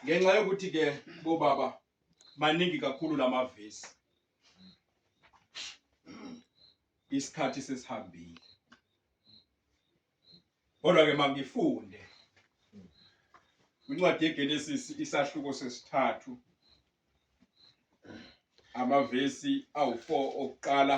ngenxa yokuthi ke bobaba maningi kakhulu lamavesi isikhathi sesihambile kodwa ke mangifunde incwadi yeGenesis isahluko sesithathu amavesi awu4 okuqala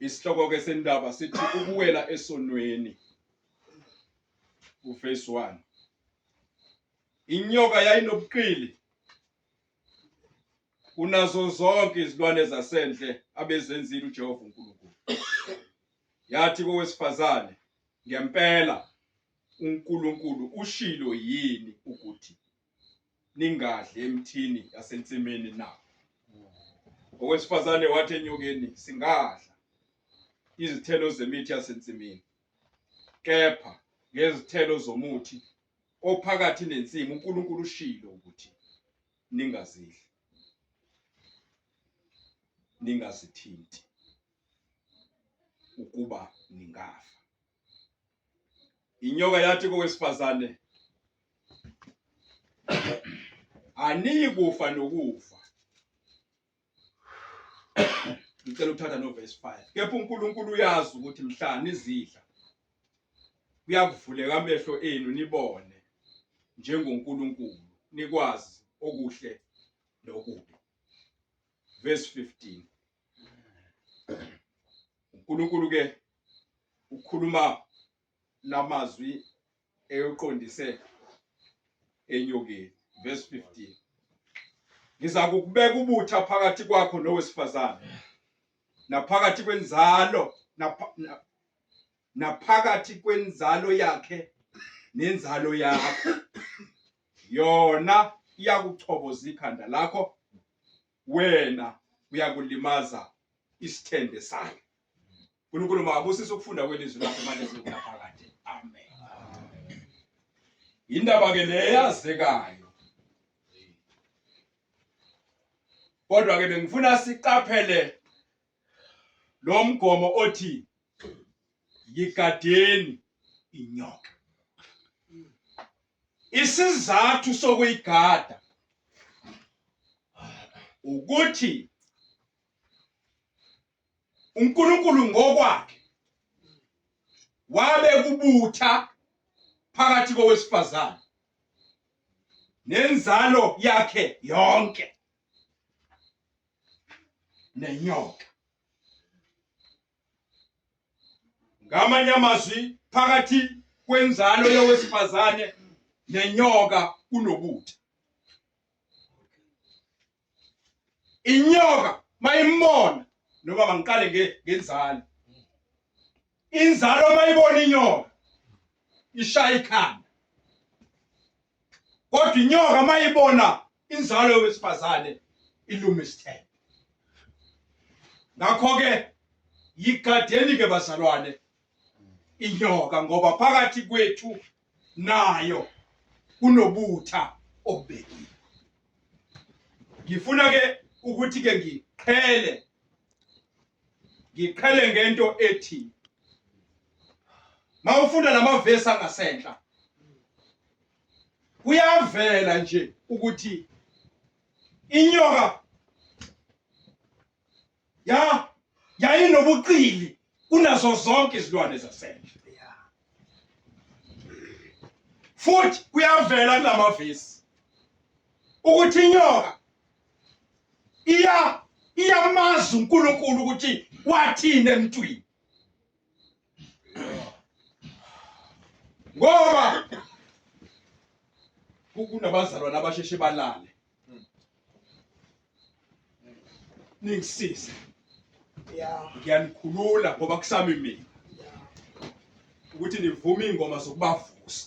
Isihloko-ke sendaba sithi ukuwela esonweni uface one inyoka yayinobuqili kunazo zonke izilwane zasendle abezenzile uJehova uNkulunkulu yathi kowesifazane ngempela uNkulunkulu ushilo yini ukuthi ningadli emthini yasensimini na? Owesifazane wathi enyokeni, Singadla izithelo zemithi yasensimini, kepha ngezithelo zomuthi ophakathi nensimu uNkulunkulu ushilo ukuthi ningazidli, ningazithinti ukuba ningafa. Inyoka yathi kowesifazane, aniyi kufa nokufa. Ngicela ukuthatha novesi 5 kepha uNkulunkulu uyazi ukuthi mhla nizidla kuyakuvuleka amehlo enu nibone njengoNkulunkulu nikwazi okuhle nokubi. Verse 15 uNkulunkulu ke ukhuluma lamazwi eyoqondise enyokeni verse 15 ngiza kukubeka ubutha phakathi kwakho nowesifazane naphakathi kwenzalo naphakathi kwenzalo yakhe nenzalo yakho yona iyakuchoboza ikhanda lakho wena uyakulimaza isithende sayo uNkulunkulu makabusise ukufunda kwelizwi lakhe manje sekunaphakade amen indaba ke leyazekayo kodwa ke bengifuna siqaphele lo mgomo othi yigadeni inyoka Isizathu sokuyigada ukuthi uNkulunkulu ngokwakhe wabe kubutha phakathi kowesifazane nenzalo yakhe yonke nenyoka ngamanye amazwi phakathi kwenzalo yowesifazane nenyoka kunobuthi inyoka mayimona noma bangiqale ngenzalo inzalo mayibona inyoka ishaya ikhanda kodwa inyoka mayibona inzalo yowesifazane iluma isithembe ngakho-ke yigadeni-ke bazalwane inyoka ngoba phakathi kwethu nayo kunobutha obubekiwe ngifuna-ke ukuthi-ke ngiqhele ngiqhele ngento ethi mawufunda lamavesi angasenhla kuyavela nje ukuthi inyoka ya yayinobuqili kunazo zonke izilwane zasendle futhi kuyavela kulamavesi ukuthi inyoka iya iyamazi uNkulunkulu ukuthi wathini emntwini ngoba kunabazalwane abasheshe balale ningisize ngiyanikhulula ngoba kusami mina ukuthi nivume iy'ngoma zokubavusa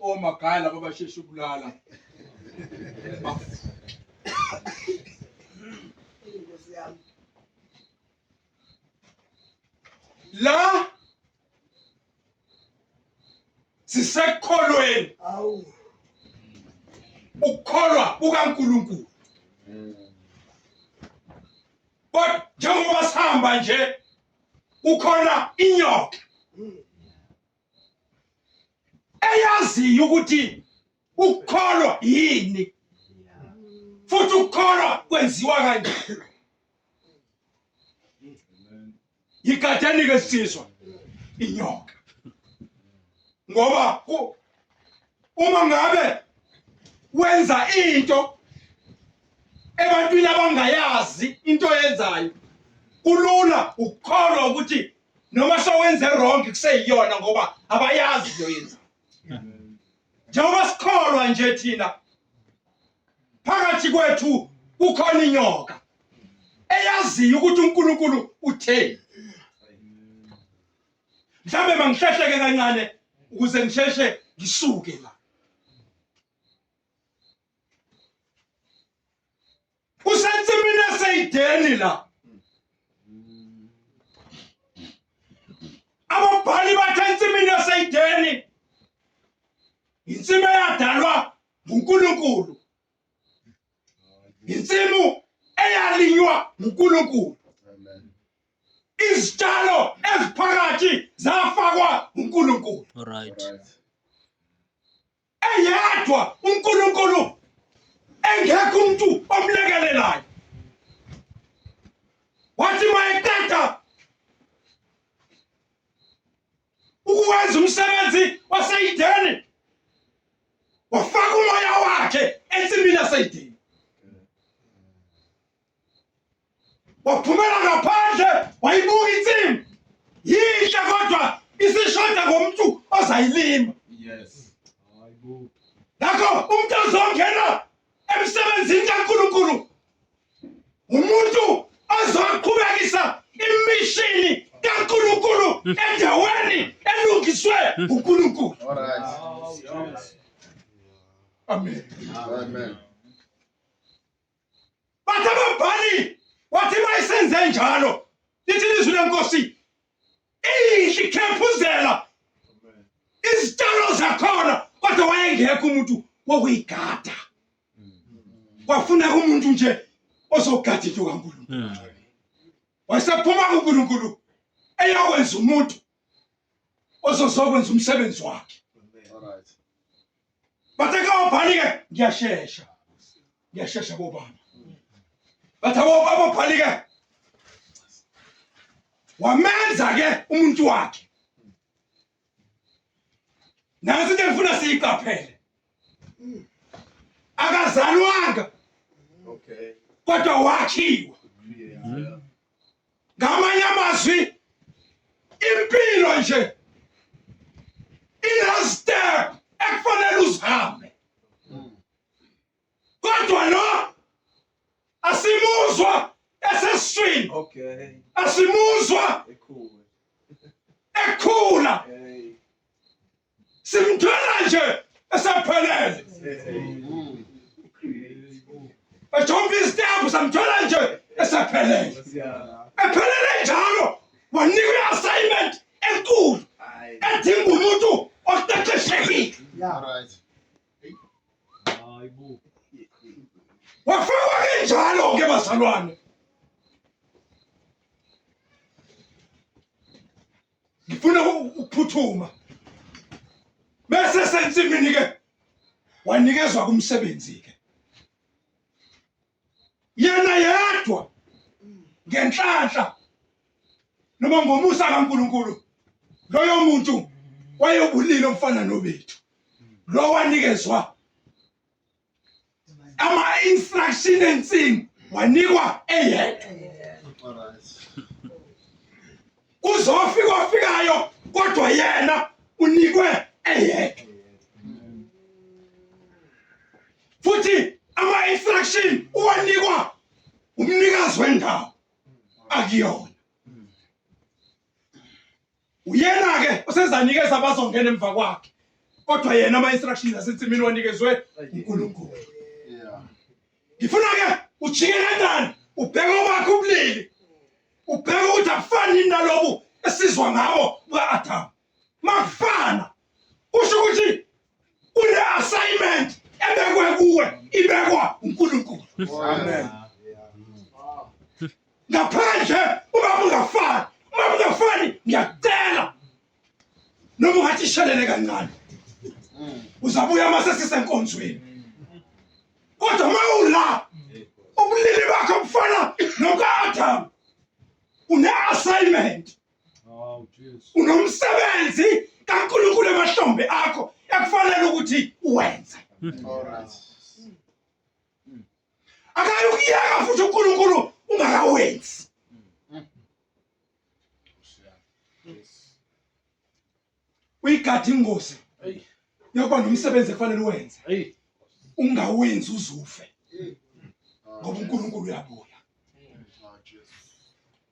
omagaya laba basheshe ukulala la sisekukholweni ukukholwa kukaNkuluNkulu kodwa njengoba sihamba nje kukhona inyoka eyaziyo ukuthi ukukholwa yini futhi ukukholwa kwenziwa kanjani yigadanike sizwa inyoka ngoba uma ngabe wenza into ebantwini abangayazi into yenzayo kulula ukukholwa ukuthi noma sowenze wrong kuseyiyona ngoba abayazi into yenza njengoba sikholwa nje thina phakathi kwethu kukhona inyoka eyaziyo ukuthi uNkulunkulu utheni mhlambe mangihlehleke kancane ukuze ngisheshe ngisuke la usensimini eseyideni la ababhali bathe ensimini eseyideni insimi eyadalwa nguNkulunkulu insimu eyalinywa nguNkulunkulu izitshalo eziphakathi zafakwa nguNkulunkulu right eyedwa uNkulunkulu engekho umuntu omlekelelayo wathi mayeqeda ukuwenza umsebenzi waseyideni wafaka umoya wakhe ensimini yaseyideni waphumela ngaphandle wayibuka insimu yinhle kodwa isishoda ngomntu ozayilima yes ngakho umntu ozongena emsebenzini kaNkulunkulu umuntu ozoqhubekisa imishini kaNkulunkulu endaweni elungiswe uNkulunkulu amen amen Bathi ababhali wathi mayisenze njalo lithi lizwi lenkosi inhle ikhephuzela izitshalo zakhona kodwa wayengekho umuntu wokuyigada kwafuna umuntu nje ozogada into kaNkulunkulu wayesephuma kuNkulunkulu eyokwenza umuntu ozozokwenza umsebenzi wakhe bathe kawabhali-ke ngiyashesha ngiyashesha bobaba bathe ababhali-ke wamenza-ke umuntu wakhe nansi into engifuna siyiqaphele akazalwanga kodwa wakhiwa ngamanye amazwi impilo nje inastep ekufanele uzihambe kodwa lo asimuzwa esesiswini asimuzwa ekhula simthola nje esephelele ejomba izitepu samthola nje esephelele ephelele njalo wanikwa i-assignment enkulu edinga umuntu oqeqeshekile wafakwa kenjalo ke bazalwane ngifuna ukuphuthuma bese sensimini ke wanikezwa kumsebenzi ke yena yedwa ngenhlanhla noma ngomusa kaNkuluNkulu loyo muntu wayobulile umfana nobethu lo wanikezwa ama instruction ensini wanikwa eyedwa kuzofika ofikayo kodwa yena unikwe eyedwa futhi ama instruction uwanikwa umnikazi wendawo akuyona uyena-ke osezanikeza abazongena emva kwakhe kodwa yena ama-instructions asensimini wanikezwe unkulunkulu ngifuna-ke ujike kanjani ubheke obakhe ubulili ubheke ukuthi akufani yini nalobu esizwa ngabo buka-adamu makufana kusho ukuthi kule assignment ebekwe kuwe ibekwa uNkulunkulu amen ngaphandle uma ungafani uma ungafani ngiyacela noma ungathi ishelele kancane uzabuya uma sesisenkonzweni kodwa uma ula ubulili bakho bufana nokaadamu une-assignment unomsebenzi kaNkulunkulu emahlombe akho ekufanele ukuthi uwenze akayi ukuyeka futhi uNkulunkulu ungakawenzi uyigadi ingozi yokuba nomsebenzi ekufanele uwenze ungawenzi uzufe ngoba uNkulunkulu uyabuya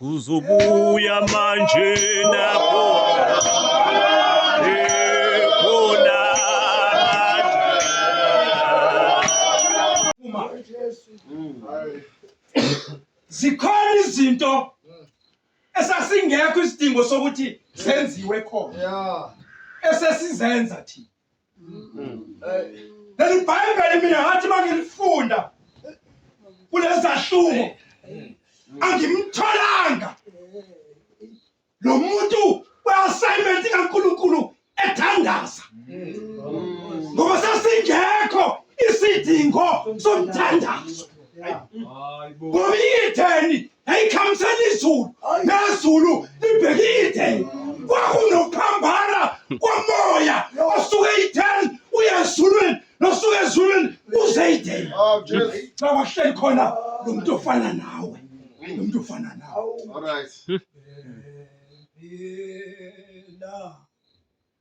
Uzobuya manje Zikhona izinto esasingekho isidingo sokuthi zenziwe khona. Yeah. Esesizenza thina. leli bhayibheli mina ngathi uma ngilifunda kulezahluko angimtholanga lo muntu we-assignment kankulunkulu ethandaza ngoba sasingekho isidingo somthandazo ngoba iyitheni yayikhamisela izulu nezulu libheke ideni kwakunokuphambana komoya osuke ideni uye ezulwini nosuke ezulwini uze ideni oh, bawahleli khona lo muntu ofana nawe lo muntu ofana nawe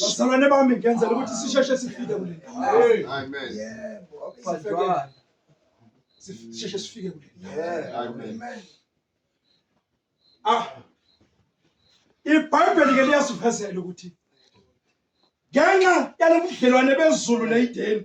bazalwane bami ngenzela ukuthi sisheshe sifike kule sisheshe sifike kule ah ibhayibheli ke liyasivezela ukuthi ngenxa yalobudlelwane bezulu neyideni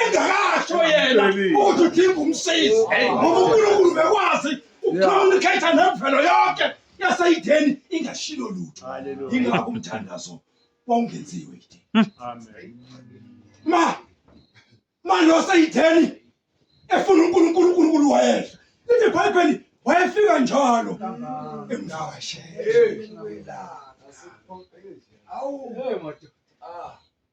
engakasho yena ukuthi udinga umsizi ngoba unkulunkulu bekwazi ukucommunicate nemvelo yonke yaseyideni ingashilo lutho yingakho umthandazo wawungenziwe ideni ma ma lo seyideni efuna unkulunkulu unkulunkulu wayehla lithi ibhayibheli wayefika njalo emvakashela awu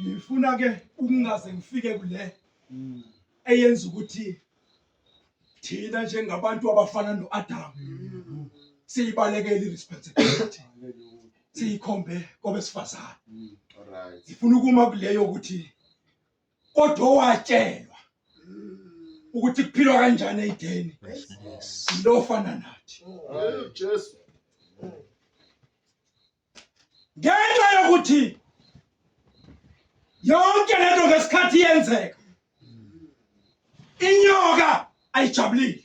ngifuna ke ukungaze ngifike kule hmm. eyenza ukuthi thina njengabantu abafana noAdam hmm. siyibalekele iresponsibility siyikhombe kwabesifazane hmm. ngifuna ukuma kuleyo ukuthi kodwa owatshelwa ukuthi kuphilwa kanjani eyideni lofana nathi Jesu ngenxa yokuthi yonke lento ngesikhathi yenzeka inyoka ayijabulile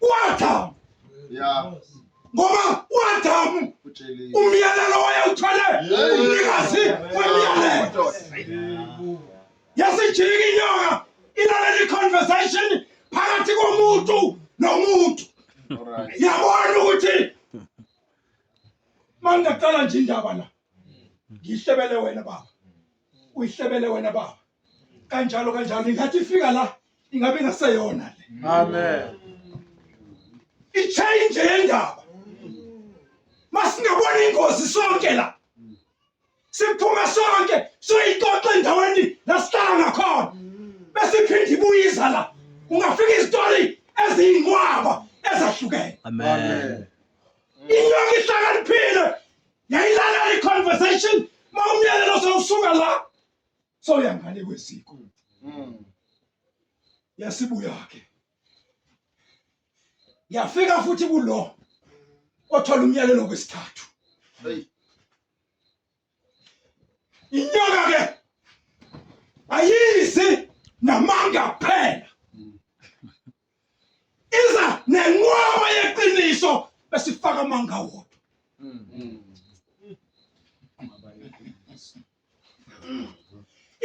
uAdamu yeah ngoba uAdamu umyalelo wayewuthole umnikazi wemyalelo yasijika inyoka ilalela iconversation phakathi komuntu nomuntu yabona ukuthi mangaqala nje indaba la ngihlebele wena baba uyihlebele wena baba kanjalo kanjalo ingathi ifika la ingabe ingaseyona le amen ichange yendaba masingabona ingozi sonke la siphume sonke soyixoxa endaweni lasihlala ngakhona bese iphinde ibuyiza la ungafika izitori eziyinqwaba ezahlukene amen inyoka ihlakaniphile yayilalela i-conversation ma umyalelo sewusuka la soya ngale kwesiko mm. yasibuya-ke yafika futhi kulo othola umyalelo kwesithathu inyoka-ke ayizi namanga kuphela iza nenqwaba yeqiniso bese ifaka amanga wodwa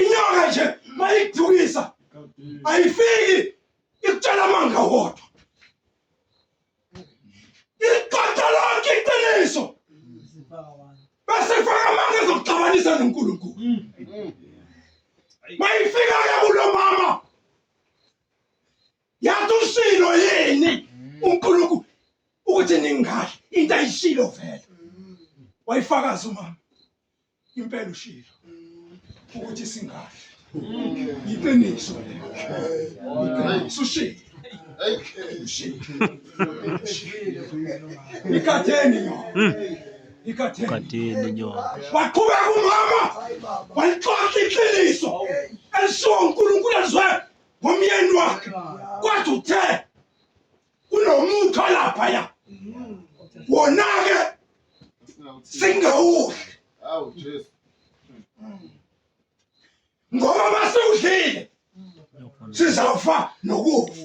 inyoka nje mayikudukisa ayifiki ikutshela amanga wodwa iqoqa lonke iqiniso bese ifaka amanga ezokuxabanisa nonkulunkulu mayifika ke kulo mama yathi ushilo yini uNkulunkulu ukuthi ningahle into ayishilo vele wayifakaza umama impela ushilo ukuthi singahle yiqiniso lelo yiqiniso ushilo ushilo ikhatheni yona ikadeni inyongo waqhubeka umama walixoxa iqiniso elishiwo unkulunkulu alizwe ngomyeni wakhe kwathi uthe kunomuthi olaphaya wona-ke singawudli ngoba masiwudlile sizawufa nokufa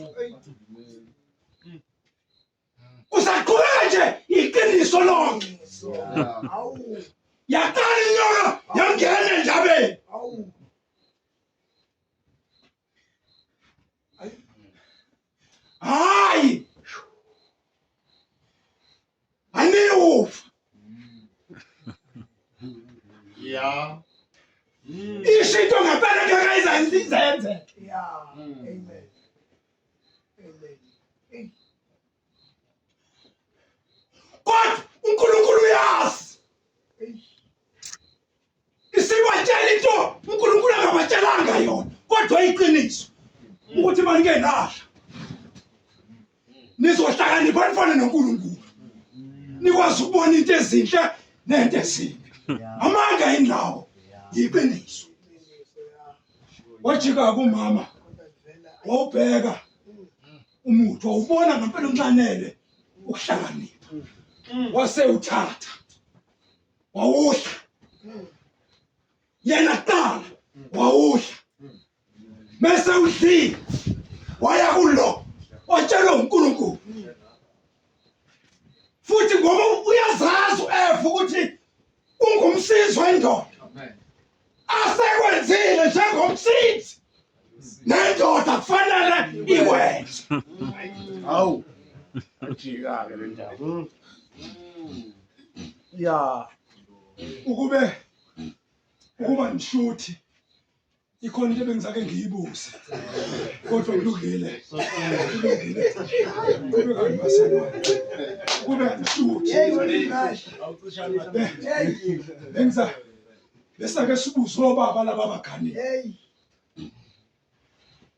Usaqhubeka nje iqiniso lonke. Yaqala inyoka yangena endabeni. Hayi. Aniyufa. Yeah. Ishinto ngempela ngeke izenze. Yeah. Amen. kodwa uNkulunkulu uyazi isibatshela into uNkulunkulu angabatshelanga yona kodwa iqiniso ukuthi maningenala nizohlakanipha nifane noNkulunkulu nikwazi ukubona into ezinhle nento ezimbi amanga yini lawo yiqiniso wajika kumama wawubheka umuthi wawubona ngempela unxanele ukuhlakanipha wase uthatha wawudla yena kuqala wawudla bese udlile waya kulo watshelwa uNkulunkulu futhi ngoba uyazazi uEva ukuthi ungumsizi wendoda asekwenzile njengomsizi nendoda kufanele ikwenze hawu ajika-ke le ndaba hmm. ya ukube ukuba nishuthi ikhona into ebengizake ngiyibuze kodwa kulungile kulungile kube kani maselwane kube kanisuthi bengiza besake sibuze obaba laba baganile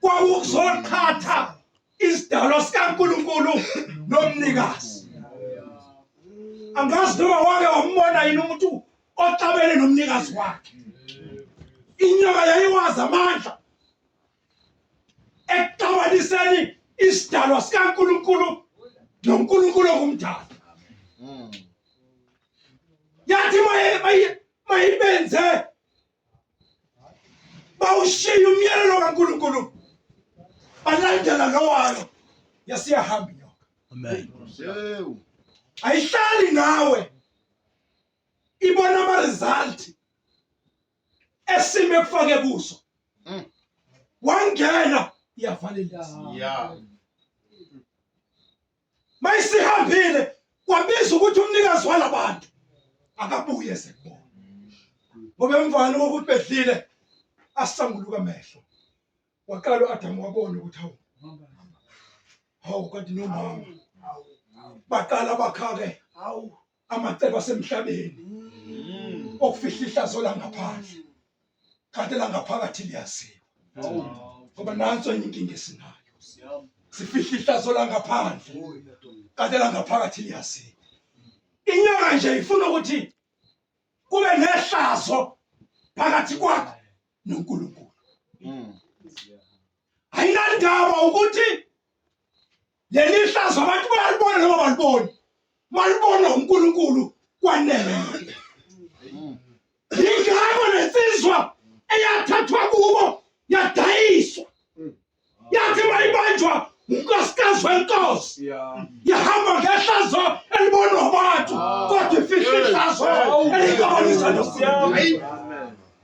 kwakuzoqhatha isidalwa sikaNkulunkulu nomnikazi angazi noma wake wambona yini umuntu oxabene nomnikazi wakhe inyoka yayiwazi amandla ekuxabaniseni isidalwa sikaNkulunkulu noNkulunkulu okumdala yathi mayibenze bawushiye umyalelo kaNkulunkulu balandela lowalo yasiyahamba inyoka amen ayihlali nawe ibona ama result esime kufake kuso mm. wangena iyavalelisa yeah mayisihambile kwabiza ukuthi umnikazi walabantu akabuye sekubona ngoba emvana kokuthi bedlile asanguluka amehlo waqala uAdamu wabona ukuthi hawu hawu kanti nomama baqala bakhake hawu amacebo asemhlabeni mm. okufihla ihlazo langaphandle kanti langaphakathi liyaziwa ngoba nanso enye inkinga esinayo sifihla ihlazo langaphandle kanti langaphakathi liyaziwa inyanga nje ifuna ukuthi kube nehlazo phakathi kwakho noNkulunkulu mm. ayinandaba ukuthi leli hlazo abantu bayalibona noma baliboni malibona uNkulunkulu kwanele ingakho lensizwa eyathathwa kubo yadayiswa yathi mayibanjwa unkosikazi wenkosi yahamba ngehlazo elibonwa abantu ah. kodwa ifihla ihlazo elikabonisa nokuya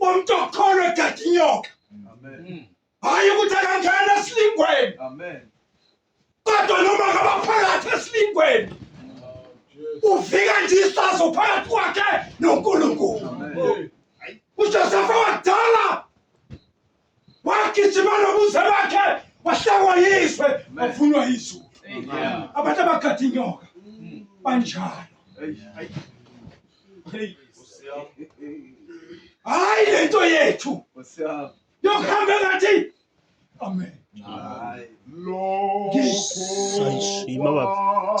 umuntu okholwa egada inyoka hhayi ukuthi akangena esilingweni kodwa noma ngabaphakathi esilingweni ufika nje isazo phakathi kwakhe nonkulunkulu ujosefa wakudala wagijima nobuze bakhe wahlangwa yizwe wafunwa yizulu abantu abagada inyoka mm. banjalo hayi le nto yethu yokuhambe ngathi amen sayishima baba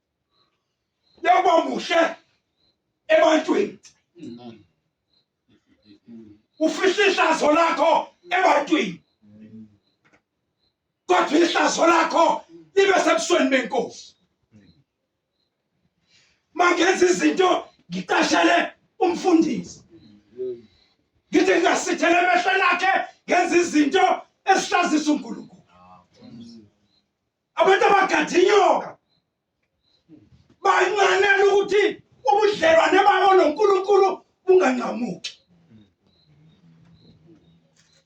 yokuba muhle ebantwini ufihla ihlazo lakho ebantwini kodwa ihlazo lakho libe sebusweni benkosi mangenza izinto ngiqashele umfundisi ngithi ngingasithele emehlweni akhe ngenza izinto esihlazisa unkulunkulu abantu abagada inyoka bancanela ukuthi ubudlelwane babo noNkulunkulu bunganqamuki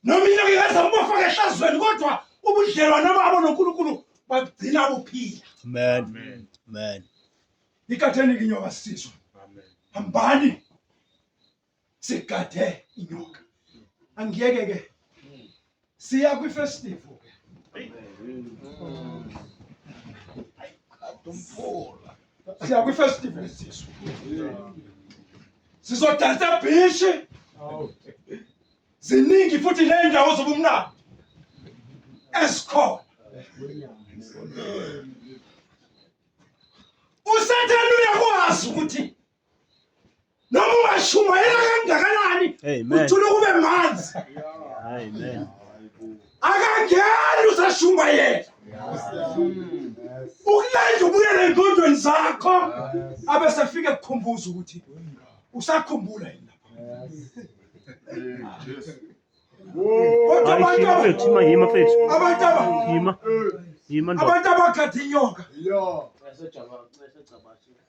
noma inyanga ingeza ubafaka ehlazweni kodwa ubudlelwane babo noNkulunkulu bagcina buphila amen amen ikathenike inyoka sizwe hambani sigade inyoka angiyeke ke siya kwi festival ke adumpula siya kwi festival sisu sizodansa bhishi ziningi futhi nendawo zobumnandi esikhona usathane uyakwazi ukuthi noma ungashumayela kangakanani uthule kube manzi akangeni usashumayela ukulanda ubuyele engqondweni zakho abe sefike kukhumbuza ukuthi usakhumbula yini abantu abakhathi inyoka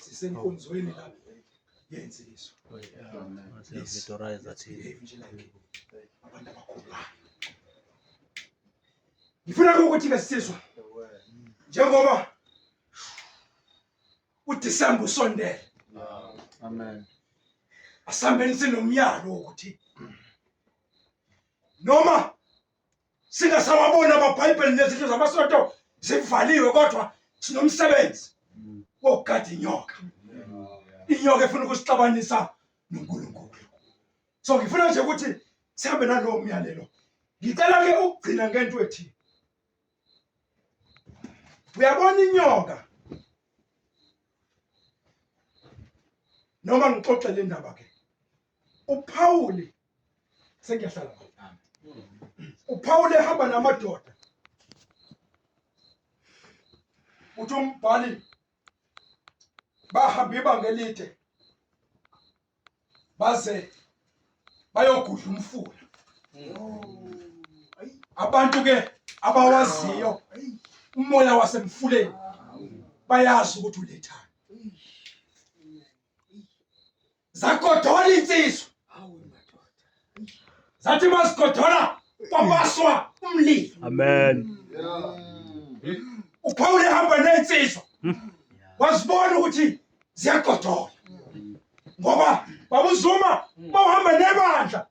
sisenkonzweni la yenziswa ngifuna ukuthi ke sizwa njengoba uDisemba usondele amen asihambeni sinomyalo wokuthi noma singasawaboni amabhayibheli nezindlu zamasonto zivaliwe kodwa sinomsebenzi wokugada inyoka inyoka efuna ukusixabanisa nonkulunkulu so ngifuna nje ukuthi sihambe nalowo myalelo ngicela ke ukugcina ngento ethi uyabona inyoka noma ngixoxe le ndaba ke uPawuli sengiyahlala uPawuli ehamba namadoda uthi umbhali bahamba ibanga elide baze bayogudla umfula abantu ke abawaziyo umoya wasemfuleni bayazi ukuthi ulethani zagodola insizwa zathi mazigodola kwabaswa umlilo amen uPaul ehamba nensizwa wazibona ukuthi ziyagodola ngoba babuzuma bawuhamba nebandla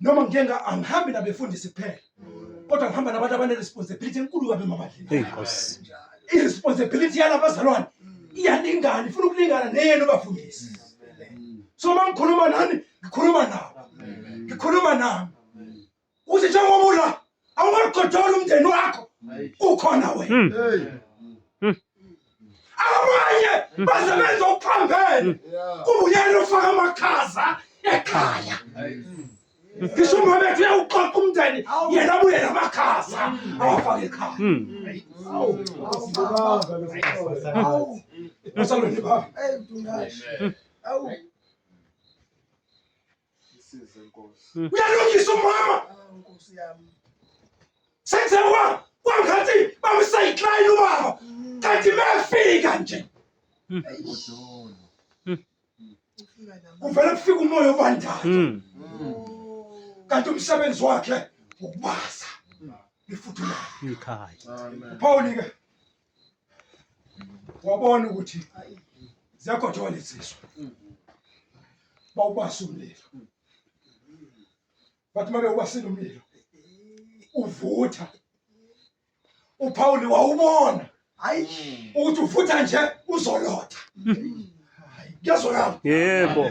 noma ngike nga- angihambi nabefundisi kuphela kodwa ngihamba nabantu abane-responsibility enkulu kabi emabandleni Hey Nkosi. i-responsibility yalabazalwane iyalingana ifuna ukulingana neyenu bafundisi so uma ngikhuluma nani ngikhuluma nabo ngikhuluma nami ukuthi njengoba ula awumagodola umndeni wakho ukhona wena hmm. hmm. abanye hmm. baze benza ukuphambene kubuyela ufaka amakhaza ekhaya ngisho uma bethu uyawuxoxa umndeni yena abuye namakhaza awafake ekhaya asalweni baba Isize Nkosi. Hmm. Uyalungisa umama. Ah, Nkosi yami. Senze wa kwangathi bamsayiklayini ubaba. Hmm. Kanti mefika nje. Hmm. Kuvele kufika umoya obandayo. Kanti umsebenzi wakhe ukubasa. Lifuthula. Ikhaya. Phawulike. wabona ukuthi ziyagojoka lezi ziswa bawubasa umlilo bathi uma bewubasile umlilo uvutha uphawuli wawubona hayi ukuthi uvutha nje uzolotha kuyazwakala yebo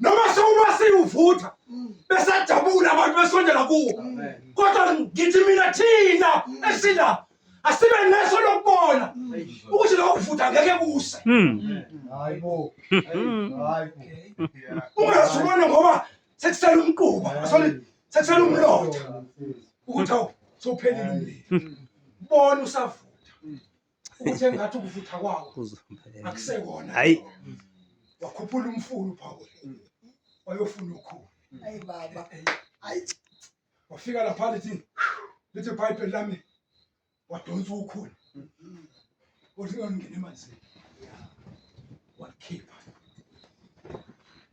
noma sewuba siwuvutha besajabula abantu besondela kuwo kodwa ngithi mina thina esila asibe neso lokubona ukuthi lokho kuvutha ngeke kuse hmm. hayibo hmm. hayibo ungasubona ngoba sekusela umquba asole sekusela umlotha ukuthi awuphelile umlilo hmm. bona usavutha Uthe ngathi ukuvutha kwawo akusekona. Hayi. Wakhuphula umfulu phawo. Wayofuna ukhulu. Hayi baba. Hayi. Wafika lapha lithi lithi pipe lami wadonsa ukhulu. Uthi ngangena emanzini. Wakhipha.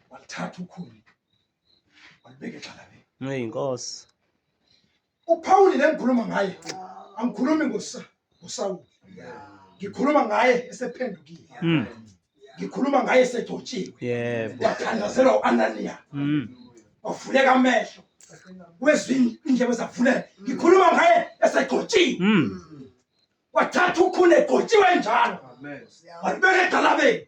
Wathatha ukhulu. Walibeka egxalabeni. Ngeyinkosi. uPawuli le ngikhuluma ngaye angikhulumi ngosa ngoSawuli ngikhuluma ngaye esephendukile Mm. ngikhuluma ngaye esegcotshiwe Yebo. wathandazelwa u-ananiya Mm. wavuleka amehlo wezwa in- indlebe zavuleka ngikhuluma ngaye esegcotshiwe Mm. wathatha ukhuni egcotshiwe njalo walibeka edalabeni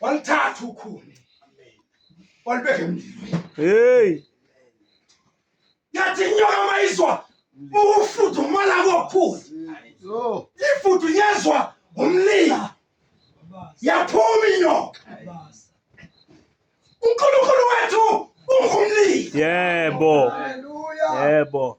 Walithatha ukhuni. Walibeka emlilweni. Hey. Yathi inyoka mayizwa ukufudumala kokhuni. Yo. Ifudu yezwa umlilo. Yaphuma inyoka. uNkulunkulu wethu ungumlilo. Yebo. Haleluya. Yebo.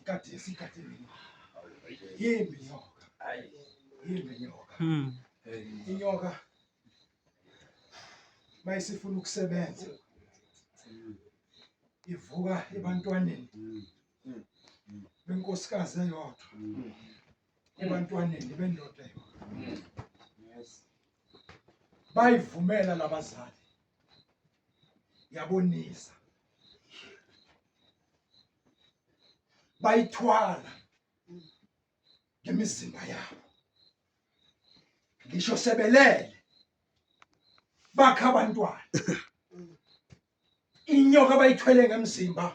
Ikati sikati mimi. Yimbi nyoka. Yimbi nyoka. Hmm. Inyoka mayisifuna ukusebenza ivuka ebantwaneni benkosikazi eyodwa ebantwaneni bendoda eyodwa bayivumela labazali yabonisa bayithwala ngemizimba yabo ngisho sebelele bakha abantwana inyoka bayithwele ngemzimba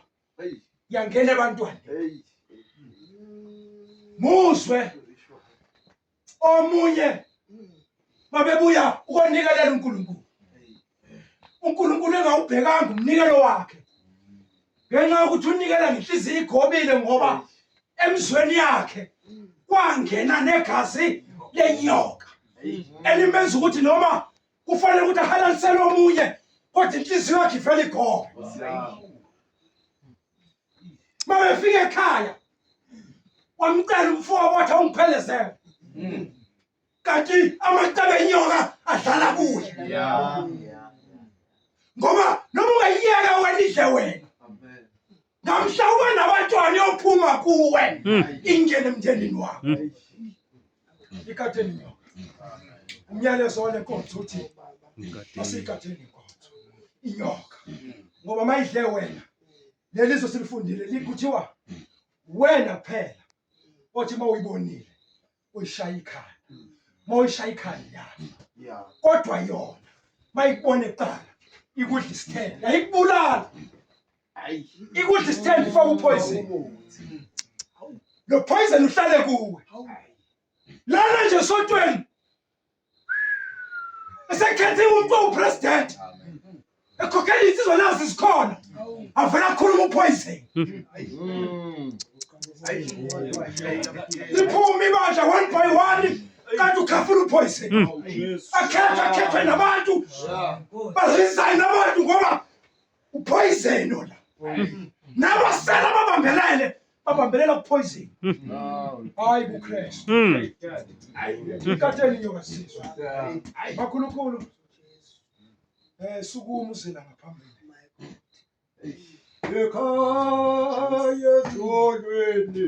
yangena abantwana muzwe omunye babebuya ukonikelela uNkulunkulu uNkulunkulu engawubhekanga umnikelo wakhe ngenxa yokuthi unikela ngenhliziyo igobile ngoba emzweni yakhe kwangena negazi lenyoka elimenza ukuthi noma kufanele ukuthi ahalalisele omunye kodwa inhliziyo yakhe ivele igobe mabefika ekhaya wamcela umfoka wathi awungiphelezele hmm. kanti amacebe enyoka adlala kuye ngoba noma ungayiyeka wena idle wena namhla uba nabantwana yophuma kuwe hmm. ingene emndenini wakho hmm. Ikateni nyoka. Umyalezo wale nkonzo uthi asikateni inkonzo. Inyoka. Ngoba mayidle wena. Lelizo silifundile likuthiwa wena kuphela othi mawuyibonile uyishaya ikhaya. Mawuyishaya ikhaya yafa. Yeah. Kodwa yona mayikubone kuqala ikudla isithelo. Yayikubulala. Ikuthi stand for upoison. Lo poison uhlale kuwe. Lana nje sontweni. Esekhethe umuntu opresident. Ekhokhela insizwa nazi sikhona. Avela akhuluma upoison. Liphuma ibandla one by one. kanti ukhafuna uphoyiseni hmm. akhethwe akhethwe nabantu baresign abantu ngoba uphoyizeni ona nabasela babambelele babambelela kuphoyizeni hayi kukristu ikateni nyoka sizwa bakhulukhulu um sukuma uzila ngaphambili ekhaya ezolweni